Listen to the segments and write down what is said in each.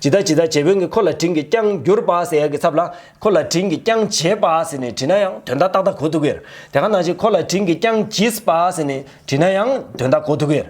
ཇི་ལྟ་ཇི་ལྟ་བྱེད་བོན་གྱི་ཁོ་ལ་དྲིན་གྱིས་བསྐྱངས་གྱུར་པ་ཟེར་ཡག་གི་ཚབ་ལ་ཁོ་ལ་དྲིན་གྱིས་བསྐྱངས་བྱས་པ་ཟེར་ནས་བྲིས་ན་ཡང་དོན་དག་ཏག་ཏག་གོ་ཐུབ་ཀྱིར་དེ་ག་ནང་བཞིན་ཁོ་ལ་དྲིན་གྱིས་བསྐྱངས་བགྱིས་པ་ཟེར་ནས་བྲིས་ན་ཡང་དོན་དག་གོ་ཐུབ་ཀྱིར་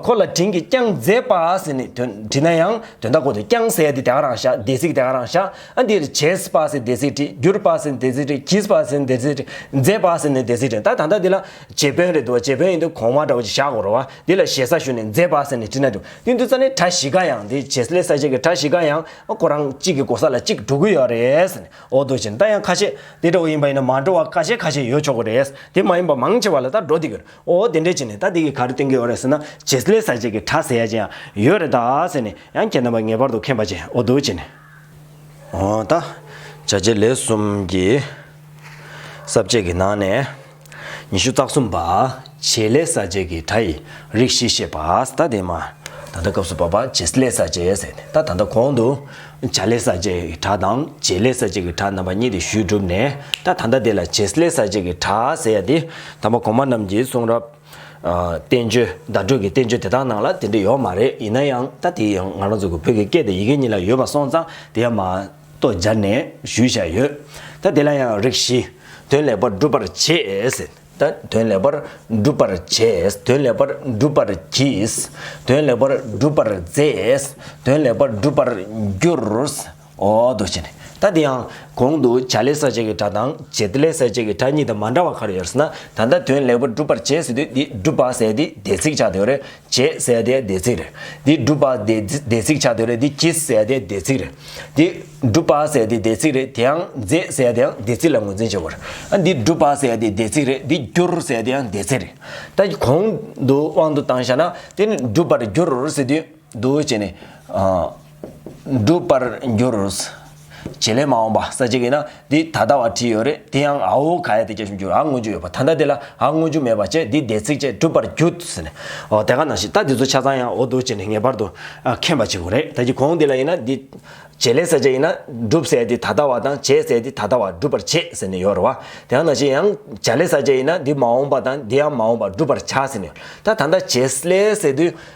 ཁོ་ལ་དྲིན་གྱིས་བསྐྱངས་མཛད་པ་ཟེར་ནས་བྲིས་ན་ཡང་དོན་དག་གོ་ཐུབ་བསྐྱངས་ཟེར་དེ་དེ་ག་རང་བཞག་སྡེ་སྲིད་དེ་ག་རང་བཞག་ཨ་འདིར་བྱས་པ་ཟེར་སྡེ་སྲིད་བྲིས་གྱུར་པ་ཟེར་སྡེ་སྲིད་བྲིས་བགྱིས་པ་ཟེར་སྡེ་སྲིད་བྲིས་མཛད་པ་ཟེར་ནས་སྡེ་སྲིད་བྲིས་ད་ད་ལྟ་འདི་ལ་བྱེད་བོན་རེད་འདུག་བྱེད་བོན་ཡིན་དུས་གོང་མ་འདྲ་བོ་ཞིག་བཞག་དགོས་རོ་བ་འདི་ལ་ཞེ་ས་ཞུ་ནས་མཛད་པ་ཟེར་ནས་བྲིས་ན་འགྲིག། ཡུན་དུ་ཙཱ་ནི་གྲྭ་བཞི་ཀ་ཡང་འདི་བྱེད་ལས་ས་བྱེད་ཀྱི་གྲྭ་བཞི་ཀ་ཡང་ཁོ་རང་གཅིག་གི་གོ་ས་ལ་གཅིག་འགྲོ་གི་ཡོད་རེད། འོ་དོ་བྱས་ད་ཡང་ཁ་ཤས་དེ་འདྲ་བོ་ཡིན་པ་ཡིན་ན་མ་འགྲོ་བ་ཀ་ཤས་ཁ་ཤས་ཡོད་ཆོག་གི་རེད། དེ་མ་ཡིན་པ་མང་ཆེ་བ་ལ་ད་འགྲོ་དེ་གི་རེད་འོ་དེ་འདྲས་བྱས་ནས་ད་དེ་གི་ག་རེ་བསྟན་གི་ཡོད་རེད་ཟེར་ན་བྱེད་ལས་ས་བྱེད་ཀྱི་གྲྭ་ཟེར་ཡ་ཅན་ཡང་ཡོད་རེད་ད་ཟེར་ནས་ཡང་ཁྱེད་རྣམ་པ་ངེས་པར་དུ་མཁྱེན་པ་བྱས་འོ་དོ་བྱས་ནས། འོ་ད་བྱ་བྱེད་ལས་གསུམ་གྱི་ས་བྱེད་ཀྱི་ནང་ནས། ཉི་ཤུ་རྩ་གསུམ་པ། བྱེད་ལས་ས་བཅད་ཀྱི་སྒྲ་ཡིས་རིགས་བཞི་བཤད་པ་ད་ལྟའི་མ། ད་ལྟ་སྐབས་སུ་བབ་པ་བྱེད་ལས་ས་བཅད་ཟེར་ནས་ད་ད་ལྟ་གོང་དུ། བྱ་ལས་ས་བཅད་ཀྱི་སྒྲ་དང་བྱེད་ལས་ས་བཅད་ཀྱི་སྒྲ་རྣམ་པ་གཉིས་ཏེ་ཞུས་གྲུབ་ནས་ད་ད་ལྟ་དེ་ལ་བྱེད་ལས་ས་བཅད་ཀྱི་སྒྲ་ཟེར་ཡ་དེ་དང་པོ་གོང་མ་རྣམས་ཀྱི་གསུང་རབ། བསྟན་བཅོས་བརྡ་སྤྲོད་ཀྱི་བསྟན་བཅོས་དེ་དག་ནང་ལ་དེ་འདྲ་ཡོད་མ་རེད་ཡིན་ན་ཡང་ད་དེ་ཡང་ང་རང་ཚོ་གི་བོད་ཀྱི་སྐད་དེ་ཡི་གེ་གཉིས་ལ་ཡོད་པ་སོང་ཙང་དེ་ཡང་མ། ཏོ་སྦྱར་ནས་ཞུས་བཞག་ཡོད། ད་དེ་ལ་ཡང་རིགས་བཞི། དོན་ལེགས་པར་བསྒྲུབ་པར་བྱེད། ད་དོན་ལེགས་པར་བསྒྲུབ་པར་བྱེད། དོན་ལེགས་པར་བསྒྲུབ་པར་གྱིས། དོན་ལེགས་པར་བསྒྲུབ་པར་མཛད། དོན་ལེགས་པར་བསྒྲུབ་པར་འགྱུར། འོ་དོ་ཞེས་ནི། ད་འདི་ཡང། གོང་དུ་བྱ་ལས་ས་བཅད་ཀྱི་སྒྲ་དང། བྱེད་ལས་ས་བཅད་ཀྱི་སྒྲ་གཉིས་དང་མ་འདྲ་བ་ག་རེ་ཡོད་ཟེར་ན། ད་ལྟ་དོན་ལེགས་པར་བསྒྲུབ་པར་བྱེད་ཟེར་དུས་འདི་བསྒྲུབ་པ་ཟེར་ཏེ་སྡེ་ཚིག་བྱ་དོན་རེད། ཅེས་གསལ་བདེ་བདེ་ཚིག་རེ། འདི་སྒྲུབ་པ་བདེ་བདེ་ཚིག་བྱ་འདོད་རེ་འདི་གྱིས་གསལ་བདེ་བདེ་ཚིག་རེ། འདི་སྒྲུབ་པ་གསལ་བདེ་བདེ་ཚིག་རེ་དེའང་རྫས་གསལ་བདེའང་བདེ་ཚིག་ལ་ངོས་འཛིན་བྱེད་པར། འདི་སྒྲུབ་པ་གསལ་བདེ་བདེ་ཚིག་རེ་འདི་རྒྱུར་གསལ་བདེའང་བདེ་ཚིག་རེ། ད་གོང་དུ་དབང་དུ་བཏང་བཞག་ན་དེ་ནི་སྒྲུབ་པར་འགྱུར་ཟེར་དུས་འདུ་བྱེད་ནི། འགྲུབ་པར་འགྱུར། བྱེད་ལས་མ་འོངས་པ་ས་གཅིག་ཡིན་ན་འདི་ད་ལྟ་བ་བྲིས་ཡོད་རེད་དེ་ཡང་ཨའོ་ག་ཡ་དེ་སྐྱེ་བཞིན་འགྱུར་ཨ་དངོས་བརྗོད་ཡོད་པ་ད་ལྟ་དེ་ལ་ཨ་དངོས་བརྗོད་མེད་པ་བཅས་འདི་སྡེ་ཚིག་བཅས་གྲུབ་པར་འགྱུར། ཨོ་དེ་ག་ནང་བཞིན་ད་འདི་ཚོ་ཆ་ཚང་ཡང་ཨོ་འདུག་ཅེས་ནས་ངེས་པར་དུ་མཁྱེན་པ་བྱེད་དགོས་རེད་ད་ཀྱི་གོང་འདི་ལ་ཡིན་ན་འདི། བྱེད་ལས་ས་གཅིག་ཡིན་ན་འགྲུབ་ཟེར་འདི་ད་ལྟ་བ་དང་བྱེད་ཟེར་འདི་ད་ལྟ་བ་འགྲུབ་པར་བྱེད་ཟེར་ནས་ཡོད་རེད་བ། དེ་ག་ནང་བཞིན་ཡང་བྱ་ལས་ས་གཅིག་ཡིན་ན་འདི་མ་འོངས་པ་དང་འདི་ཡང་མ་འོངས་པ་འགྲུབ་པར་བྱ་ཟེར་ནས་ཡོད་རེད་ད་ད་ལྟ་བྱེད་ལས་ཟེར་དུས།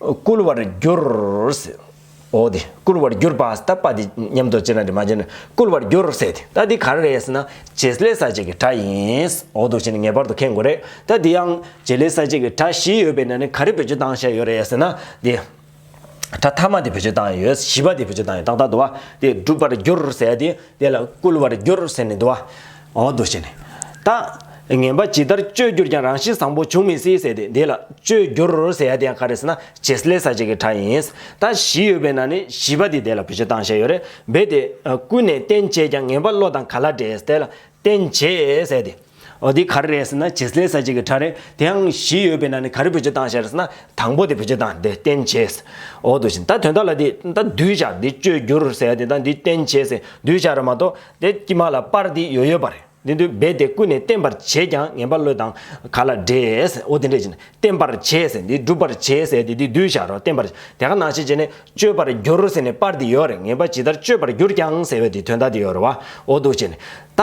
བསྐུལ་བར་འགྱུར། འོ་དེ་བསྐུལ་བར་གྱུར་པ་ད་པ་དེ་ཉམས་རྟོགས་ཅི་ན་དྲི་མ་བཅད་ན་བསྐུལ་བར་འགྱུར་ཟེར་ཏེ་ད་འདི་ག་རེ་རེད་ཟེར་ན་བྱེད་ལས་ས་བཅད་ཀྱི་གྲྭ་ཡིན། འོ་དོ་ཞེས་ནི་ངེས་པར་དུ་མཁས་དགོས་རེད་ད་འདི་ཡང་བྱེད་ལས་ས་བཅད་ཀྱི་གྲྭ་བཞི་ཡོད་པའི་ནང་ནས་ག་རེ་བེད་སྤྱོད་བཏང་བཞག་ཡོད་རེད་ཟེར་ན་དེ། གྲྭ་ཐ་མ་དེ་བེད་སྤྱོད་བཏང་ཡོད་བཞི་པ་དེ་བེད་སྤྱོད་བཏང་ཡོད་ཏག་ཏག་འདུག་བ་དེ་བསྒྲུབ་པར་འགྱུར་ཟེར་ཏེ་དེ་ལ་བསྐུལ་བར་འགྱུར་ཟེར་ནས་འདུག་བ། འོག་ཏུ་བྱས་ནས། རྟགས། ངན་པ་ཇི་ལྟར་བཅོས་བསྒྱུར་ཀྱང་རང་བཞིན་བཟང་པོ་འབྱུང་མི་སྲིད་ཟེར་ཏེ་འདི་ལ་བཅོས་བསྒྱུར་ཟེར་ཡ་དེ་ཡང་ག་རེ་ཟེར་ན་བྱེད་སླད་ས་བཅད་ཀྱི་གྲྭ་ཡིན། རྟགས་བཞི་ཡོད་པས་ན་ནི་བཞི་པ་འདི་དེ་ལ་བུ་བྱེད་སྟངས་བཤད་ཡོད་རེད་འབད་དེ། ཀུན་ནས་རྟེན་བྱེད་ཀྱང་ངན་པ་བློ་དང་ག་ལ་འདྲེས་དེ་ལ་རྟེན་བྱེད་ཟེར་ཏེ། འོ་འདི་ག་རེ་རེད་ཟེར་ན་བྱེད་སླད་ས་བཅད་ཀྱི་གྲྭ་རེད་དེ་ཡང་བཞི་ཡོད་པས་ན་ནི་ག་རེ་བུ་བྱེད་སྟངས་བཤད་ཟེར་ན་དང་པོ་དེ་བུ་བྱེད་སྟངས་དེ་རྟེན་བྱེད། འོག་ཏུ་བྱས་ནས་རྟགས་དོན་དག་ལ་དེ་རྟགས་གདུལ་བྱ་འདི་བཅོས་བསྒྱུར་ཟེར་ཡ་དེ་དག་འདི་རྟེན་བྱེད་ཟེར་གདུལ་བྱ་ར་མ་གཏོགས། དེ་ཀྱིས་མ་ལ་སྤར་དེ་ཡོད་ཡོད་པར་འདི་འདུལ་སྦས་དེ་ཀུན་ནས་བསྟན་པར་བྱེད་ཀྱང་ངན་པ་བློས་དང་ག་ལ་འདྲེས་ཨོ་དེ་འདྲེས་ཅི་ན་བསྟན་པར་བྱེད་ཟེར་འདི་སྒྲུབ་པར་བྱེད་ཟེར་དེ་འདི་འདུལ་བྱ་རོ་བསྟན་པར་དེ་ག་ནང་བྱེད་ཅེ་ན་སྤྱོད་པར་འགྱུར་ཟེར་ནས་སྤར་དེ་ཡོད་རེད་ངན་པ་ཇི་ལྟར་སྤྱོད་པར་འགྱུར་ཀྱང་ཟེར་བས་དེ་དོན་དག་དེ་ཡོད་རེད་བ་ཨོ་འདུག་ཅེ་ན་ད་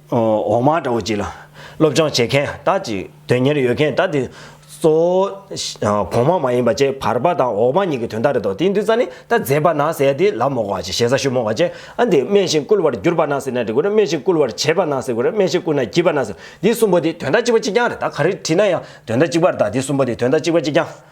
འོག་མ་དགྲ་བོ་གཅིག་ལ། སློབ་སྦྱོང་བྱེད་མཁན་དག་ཅིག་དོན་གཉེར་ཡོད་མཁན་དག་དེ། གཙོ་བོ། གོང་མ་མ་ཡིན་པ་བཅས་བར་པ་དང་འོག་མ་གཉིས་ཀྱི་དོན་དག་རེད་དོ་དེའི་འདུན་རྩ་ནི་ད་མཛད་པ་ན་ཟེར་ཏེ་ལ་མོ་གོ་བ་ཞེས་ཞེ་ས་ཞུ་མོ་གོ་བྱེད་ཨ་འདི་སྨྲས་ཤིང་བསྐུལ་བར་གྱུར་པ་ན་ཟེར་ན་འདི་དགོས་རེད་སྨྲས་ཤིང་བསྐུལ་བར་བྱེད་པ་ན་ཟེར་དགོས་རེད་སྨྲས་ཤིང་བསྐུལ་ན་བགྱིད་པ་ན་ཟེར་འདི་གསུམ་པོ་དེ་དོན་དག་གཅིག་པ་གཅིག་རྐྱང་རེད་ད་ག་རེ་བྲིས་ན་ཡང་དོན་དག་གཅིག་པར་གདའ་འདི་གསུམ་པོ་དེ་དོན་དག་གཅིག་པ་གཅིག་རྐྱང།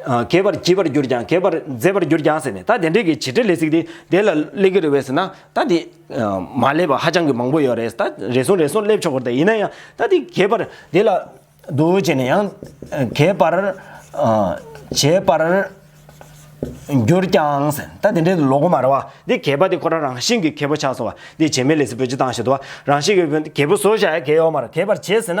གས་པར་བགྱིད་པར་གྱུར་ཀྱང་གས་པར་མཛད་པར་གྱུར་ཀྱང་ཟེར་ནས་ད་དེ་འདྲས་ཀྱི་བྱེད་འབྲེལ་ལས་ཚིག་དེ་དེ་ལ་སླེབས་ཀྱི་རེད་བས་ཟེར་ན་ད་དེ། མ་སླེབས་པ་ཧ་ཅང་གི་མང་པོ་ཡོད་རེད་ད་རེ་ཟུང་རེ་ཟུང་སླེབས་ཆོག་གི་རེད་ཡིན་ན་ཡང་ད་དེ་གས་པར་དེ་ལ། འདུག་བྱས་ནས་ཡང། གས་པར། བྱེད་པར། གྱུར་ཀྱང་ཟེར་ནས་ད་དེ་འདྲས་ལོག་གི་མ་རེད་བ། འདི་གས་པ་དེ་ཁོ་རང་རང་བཞིན་གྱིས་གས་པོ་ཆགས་སོང་བ། འདི་བྱེད་མེད་ལས་ཚིག་བོད་སྤྱི་བཏང་བཞིན་དུ་བ་རང་བཞིན་གྱིས་གས་པོ་བཟོ་བཞག་ཡ་གས་ཡོག་མ་རེད་གས་པར་བྱེད་ཟེར་ན།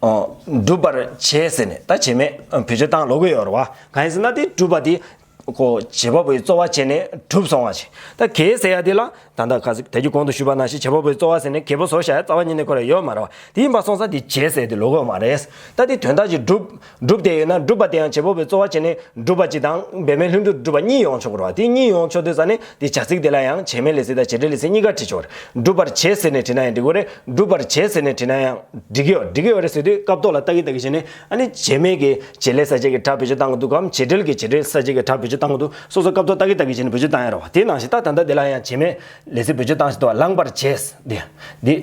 སྒྲུབ་པར་བྱེད་ཟེར་ནས་ད་བྱེད་མེད་བེད་སྤྱོད་བཏང་ལོ་གོ་ཡོར་བ་གང་ཡིན་ཟེར་ན་དེ་སྒྲུབ་པ་དེ། ཁོ་བྱེད་པ་པོའི་རྩོལ་བ་བྱས་ནས་གྲུབ་སོང་བ་བྱེད་ད་གེ་ཟེར་ཡ་དེ་ལ་ད་ད་ག་ཟེ་ད་གྱི་གོང་དུ་ཞུས་པ་ན་ཞེས་བྱེད་པ་པོའི་རྩོལ་བ་ཟེར་ནས་གེ་བོ་ཟོ་བྱ་ཡ་རྩ་བ་ཉིད་ནས་ཁོ་ལ་ཡོད་མ་རེད་བ་དེ་ཡིན་པ་སོང་ས་དེ་བྱེད་ཟེར་དེ་ལོ་གོ་མ་རེད་ད་དེ་དོན་དག་ཅིག་སྒྲུབ། སྒྲུབ་དེ་ཡོད་ན་སྒྲུབ་པ་དེའང་བྱེད་པ་པོའི་རྩོལ་བ་བྱས་ནས་སྒྲུབ་པ་གཅིག་དང་འབད་མེད་ལྷུན་གྲུབ་སྒྲུབ་པ་གཉིས་ཡོང་ཆོག་གོ་རེད་བ་དེ་གཉིས་ཡོང་ཆོག་དུས་ས་ནི། འདིས་བྱ་ཚིག་དེ་ལ་ཡང་བྱེ་སྨྲའི་ལས་ཚིག་དང་བྱེ་སྒྲའི་ལས་ཚིག་གཉིས་ཀ་བྲི་ཆོག། འགྲུབ་པར་བྱེད་ཟེར་ནས་བྲིས་ན་ཡང་འགྲིག་གི་ཡོད་རེད། འགྲུབ་པར་བྱེད་ཟེར་ནས་བྲིས་ན་ཡང། འགྲིག་གི་ཡོད་འགྲིག་གི་ཡོད་རེད་ཟེར་དུས་སྐབས་ཐོག་ལ་ལྟ་གི་ལྟ་གི་བྱས་ནས་ཨ་ནི་བྱེ་སྨྲས་ཀྱི་བྱེད་ལས་ས་བཅད་ཀྱི་གྲྭ་བེད་སྤྱོད་བཏང་གི་འདུག་གམ་བྱེད་འབྲེལ་གྱི་བྱེད་འབྲེལ་ས་བཅད་ཀྱི་གྲྭ་བེད་སྤྱོད་བཏང་གི་འདུག་སོ་སོ་སྐབས་ཐོག་ལྟ་གི་ལྟ་གི་བྱས་ནས་བེད་སྤྱོད་བཏང་ཡ་རོགས་བ་དེ་ནང་བཞིན་ད་ད་ད་འདི་ལ་ཡང་བྱེ་སྨྲའི་ལས་ཚིག་བེད་སྤྱོད་བཏང་བཞིན་དུ་ལངས་པར་བྱེད། འདི་འདི།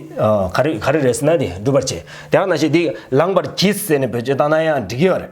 ག་རེ་ག་རེ་རེད་ཟེར་ན་འདི་འགྲུབ་པར་བྱེད་དེ་ཡང་ནང་བཞིན་འདི་ལངས་པར་གྱིས་ཟེར་ནས་བེད་སྤྱོད་བཏང་ན་ཡང་འགྲིག་གི་ཡོད་རེད།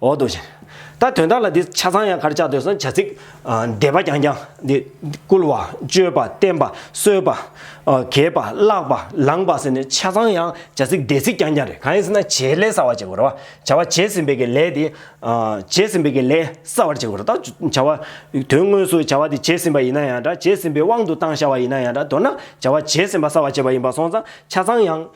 འོ་དོ་ཞེས། ད་དོན་དག་ལ་འདི་ཆ་ཚང་ཡང་གར་བྱ་འདོད་སོང་བྱ་ཚིག། བཟླས་པ་རྐྱང་རྐྱང་འདི། བསྐུལ་བ། བཅོལ་པ། བསྟན་པ། གསོལ་པ། གྱེས་པ། བཀླག་པ། ལངས་པ་ཟེར་ནས་ཆ་ཚང་ཡང་བྱ་ཚིག་བཟླས་ཚིག་རྐྱང་རྐྱང་རེད་གང་ཡིན་ཟེར་ན་བྱའི་ལས་བསགས་བར་བྱེད་དགོས་རེད་བ། བྱ་བ་བྱས་ཟིན་པའི་གི་ལས་དེ། བྱས་ཟིན་པའི་གི་ལས་བསགས་བར་བྱེད་དགོས་རེད་ད། བྱ་བ། དོན་དངོས་སུ་བྱ་བ་དེ་བྱས་ཟིན་པ་ཡིན་ན་ཡང་འདྲ་བྱས་ཟིན་པའི་དབང་དུ་བཏང་བྱ་བ་ཡིན་ན་ཡང་འདྲ་མདོར་ན་བྱ་བ་བྱས་ཟིན་པ་བསགས་བར་བྱེད་པ་ཡིན་པ་སོང་ཙང་ཆ་ཚང་ཡང།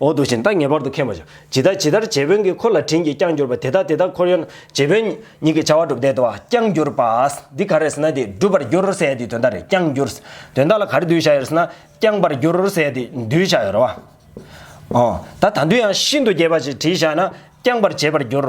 འོག་ཏུ་བཞིན་བདག་ངེས་པར་དུ་མཁྱེན་པར་བྱ། ཇི་ལྟ་ཇི་ལྟར་རྗེ་བོན་གྱི་འཁོར་ལ་དྲིན་གྱིས་བསྐྱངས་གྱུར་པ་དེ་དག་དེ་དག་འཁོར་ཡོན་རྗེ་བོན་ཉིད་ཀྱི་བྱ་བ་སྒྲུབ་བདེ་བ་བསྐྱངས་གྱུར་པ། འདི་ག་རེ་ཟེར་ན་དེ་བསྒྲུབ་པར་འགྱུར་ཟེ་དེ་དོན་དག་རེ་བསྐྱངས་གྱུར། དོན་དག་ལ་ག་རེ་འདུལ་བྱ་ཡོད་ཟེར་ན། བསྐྱངས་པར་འགྱུར་ཟེ་དེ་འདུལ་བྱ་ཡོད་རེ་བ། ད་ད་འདུལ་ཡང་ཤིན་ཏུ་རྒྱས་པ་ཞིག་བྲིས་བཞག་ན་བསྐྱངས་པར་བྱེད་པར་འགྱུར།